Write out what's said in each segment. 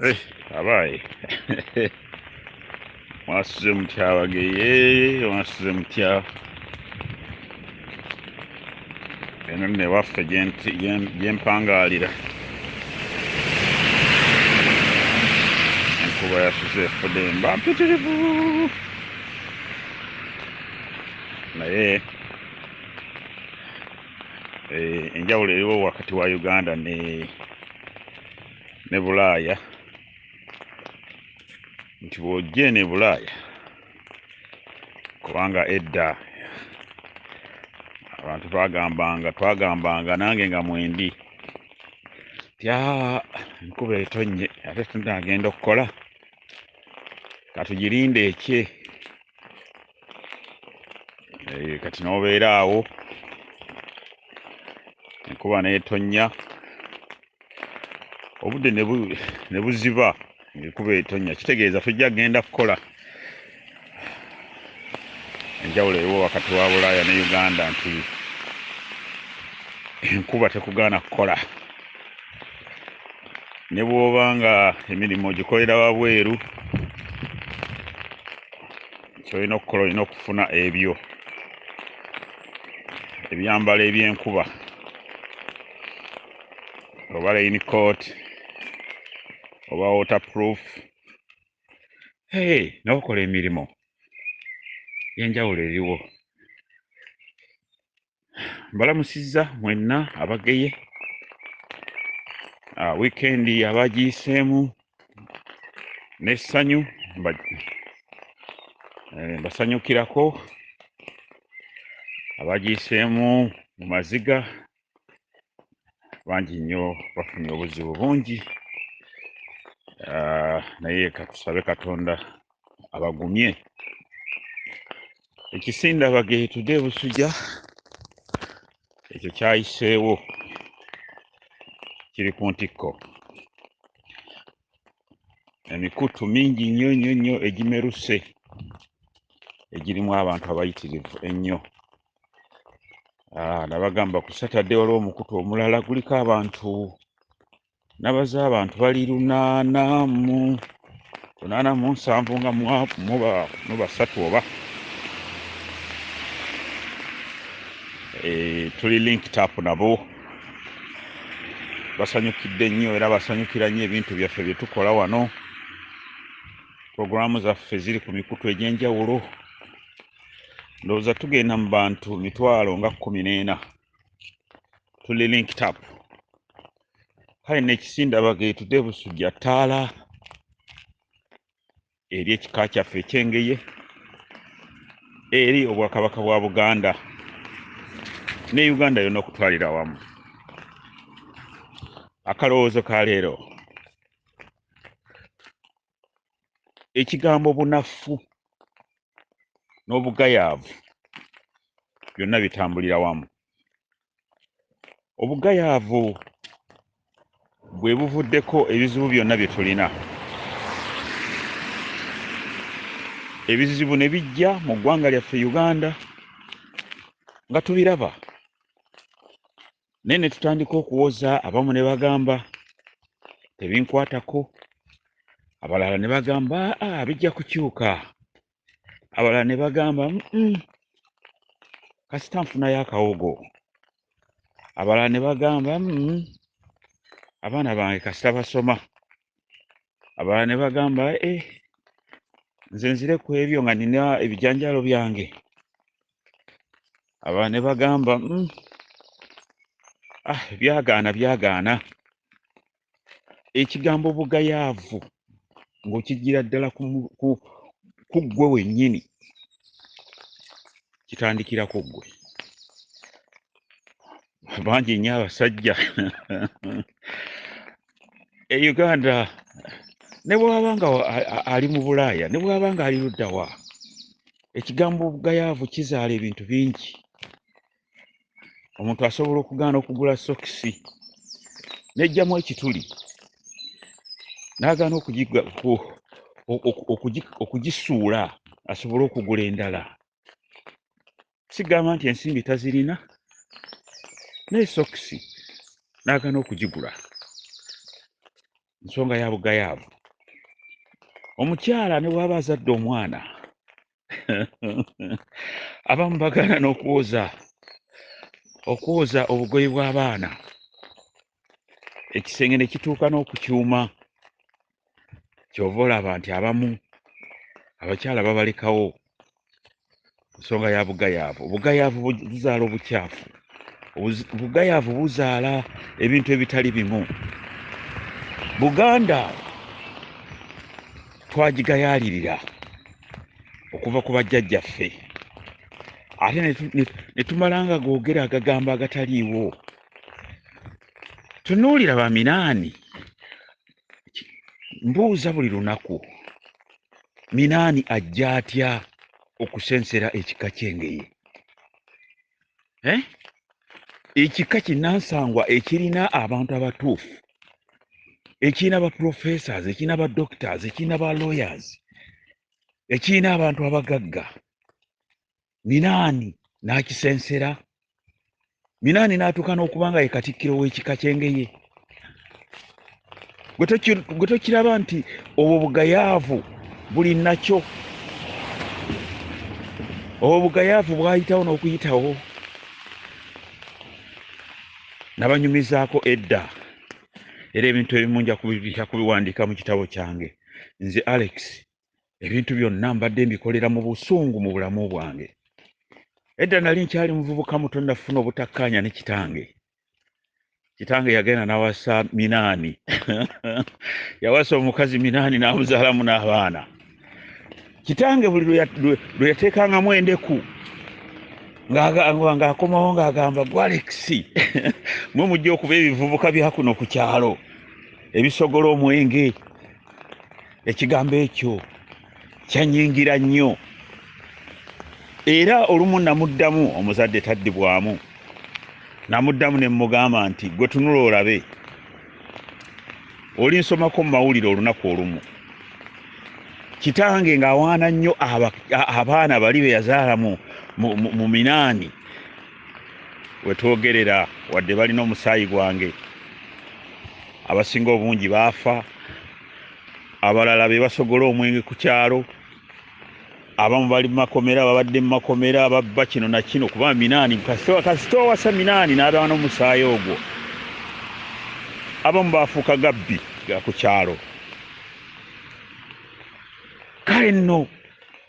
Eh, abaaye mwasuze mutya abageye mwasuze mutya eno nno ewaffe gyempangaalira enkuba yasuze efude mba mpitirivu naye eh, enjawulo eriwo wakati wa uganda ne ne bulaaya nti bw'ojja eno e bulaaya kubanga edda abantu bagambanga twagambanga nange nga mwendi tya enkuba etonnye ate tunaagenda okukola katugirinde ekye eh, kati n'obeera awo enkuba n'etonnya obudde ne buziba ng'ekuba etonnya kitegeeza tujja kugenda kukola enjawulo eriwo wakati wa bulaaya ne uganda nti enkuba tekugaana kukola ne bw'oba nga emirimu gikolera wabweru kyolina okukola olina okufuna ebyo ebyambalo ebyenkuba oba rain coat oba waterproof hey, n'okola emirimu yenjawulo eriwo mbalamusizza mwenna abageye ah, wiikendi abagiyiseemu n'essanyu eh, mbasanyukirako abagiyiseemu mu maziga bangi nnyo bafunye obuzibu bungi ah, naye katusabe katonda abagumye ekisinda bageetude busuja ekyo kyayiseewo kiri ku ntikko emikutu mingi nnyo nnyo nnyo egimeruse egirimu abantu abayitirivu ennyo Ah, nabagamba ku saturday waliwo omukutu omulala guliko abantu nabaza abantu bali lunaana mu lunaana mu nsanvu nga mubasatu oba eh, tuli link tap nabo basanyukidde nnyo era basanyukira nnyo ebintu byaffe bye tukola wano puroguramu zaffe ziri ku mikutu egy'enjawulo ndowooza tugenda mu bantu mitwalo nga kumi n'ena tuli linked up kale nekisindaba getude busujja ttaala eri ekika kyaffe ekyengeye eri obwakabaka bwa buganda ne uganda yona okutwalira wamu akalowoozo ka leero ekigambo bunafu n'obugayaavu byonna bitambulira wamu obugayaavu bwe buvuddeko ebizibu byonna bye tulina ebizibu ne bijja mu ggwanga lyaffe uganda nga tubiraba naye ne tutandika okuwoza abamu ne bagamba tebinkwatako abalala ne bagamba ah, bijja kukyuka abalala ne bagamba kasita nfunayo akawogo abalala ne bagamba abaana bange kasita basoma abalala ne bagamba e nze nzire ku ebyo nga nina ebijanjalo byange abalala ne bagamba mm, ah, byagaana byagaana ekigambo bugayaavu ng'okigira ddala ku mu- ku- ku ggwe wennyini kitandikira ku ggwe bangi nnyo abasajja e uganda ne bwaba nga ali mu bulaaya ne bwaba nga ali luddawa ekigambo obugayaavu kizaala ebintu bingi omuntu asobola okugaana okugula sokisi nejjamu ekituli n'agaana okugisuula asobole okugula endala sigamba nti ensimbi tazirina naye sokisi n'agana okugigula nsonga ya bugayaavu omukyala ne bwaba azadde omwana abamu bagaana n'okwoza okwoza obugoyi bw'abaana ekisenge ne kituuka n'okukyuma kyova olaba nti abamu abakyala babalekawo nsonga ya bugayaavu obugayaavu buzaala obukyafu obugayaavu buzaala ebintu ebitali bimu buganda twagigayaalirira okuva ku bajjajjaffe ate netumala nga googera agagambo agataliiwo tunuulira baminaani mbuuza buli lunaku minaani ajja atya okusensera ekika kyengeye eh? ekika kinansangwa ekirina abantu abatuufu ekirina ba professors ekirina ba doctors ekirina ba lawyers ekirina abantu abagagga minaani n'akisensera minaani n'atuuka n'okuba nga ye katikkiro w'ekika ky'engeye gwe tokiraba nti obwo bugayaavu buli nakyo obwo bugayaavu bwayitawo n'okuyitawo nabanyumizaako edda era ebintu ebimu nja kubiwandiika mu kitabo kyange nze alex ebintu byonna mbadde mbikolera mu busungu mu bulamu bwange edda nali nkyali muvubuka muto nafuna obutakkaanya ne kitange kitange yagenda nawasa minaani yawasa omukazi minaani n'amuzaalamu n'abaana kitange buli lwe yateekangamu endeku ng'akomawo ng'agamba gwalekisi mwe mujja okuba ebivubuka byakuno ku kyalo ebisogola omwenge ekigambo ekyo kyanyingira nnyo era olumu namuddamu omuzadde taddibwamu namuddamu ne mmugamba nti gwe tunula olabe oli nsomako mu mawulire olunaku olumu kitange ng'awaana nnyo abaana bali be yazaala mu minaani wetwogerera wadde balina omusaayi gwange abasinga obungi baafa abalala be basogola omwenge ku kyalo abamu bali mumakomera babadde mumakomera ababba kino nakino kuba minaani kasita owasa minaani n'abaana omusaayi ogwo abamu baafuuka gabbi ga ku kyalo kale nno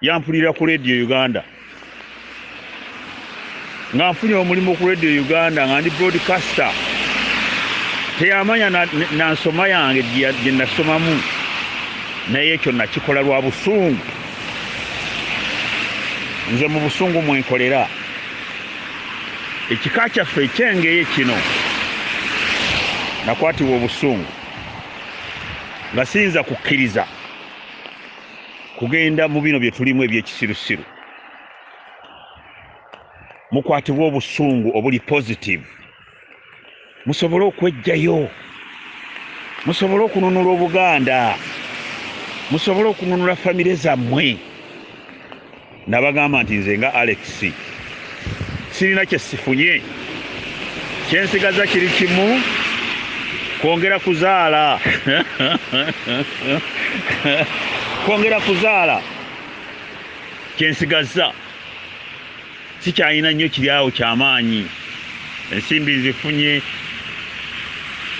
yampulira ku radio uganda nga nfunye omulimu ku radio uganda nga ndi broadcaster teyamanya nansoma yange gye nasomamu naye ekyo nakikola lwa busungu nze mu busungu mwenkolera ekika kyaffe ekyengeye kino nakwatibwa obusungu nga siyinza kukkiriza kugenda mu bino bye tulimu eby'ekisirusiru mukwatibwa obusungu obuli positive musobole okwejjayo musobole okununula obuganda musobole okununula famire zammwe Nabagamba nti nze nga Alex sirina kye sifunye, kye nsigaza kiri kimu kwongera kuzaala kwongera kuzaala kye nsigazza sikyalina nnyo kiri awo ky'amaanyi. Ensimbi nzifunye,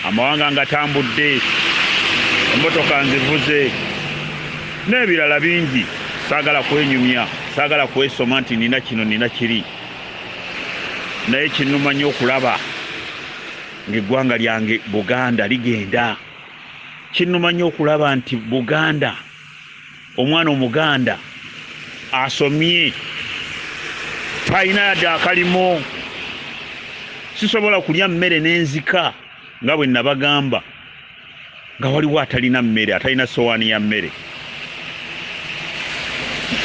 amawanga ngatambudde, emmotoka nzivuze n'ebirala bingi. Saagala kwenyumya, saagala kwesoma nti nina kino nina kiri, naye kinnuma nnyo okulaba ng'eggwanga lyange Buganda ligenda. Kinnuma nnyo okulaba nti Buganda Omwana omuganda asomye talina yadde akalimo, sisobola kulya mmere nenzika nga bwe nabagamba nga waliwo atalina mmere, atalina sowaani ya mmere.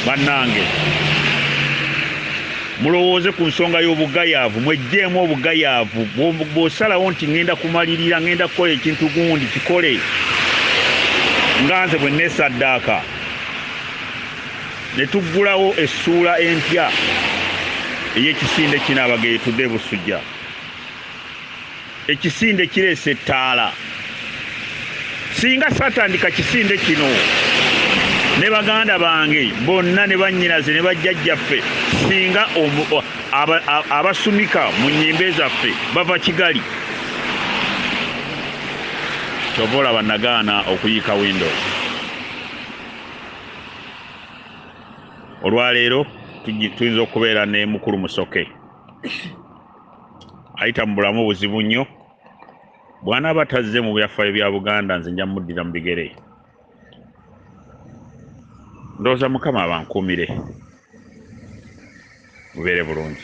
Bannange! Mulowooze ku nsonga y'obugayaavu. Mweggyemu obugayaavu. Bw'osalawo nti, Ŋŋenda kumalirira, ŋŋenda kukola ekintu gundi, kikole nga nze bwe nneesaddaaka. Ne tuggulawo essuula empya ey'ekisinde kino, Abageyi Today Busujja. Ekisinde kireese ettaala. Singa satandika kisinde kino ne baganda bange bonna ne bannyinaze ne bajjajjaffe singa abasumika mu nnyimbe zaffe bava kigali kyova olaba nagaana okuyiika windo olwaleero tuyinza okubeera ne mukulu musoke ayita mu bulamu buzibu nnyo bwanaaba tazze mu byafaayo bya buganda nze nja muddira mu bigere ndowooza mukama abankuumire mubeere bulungi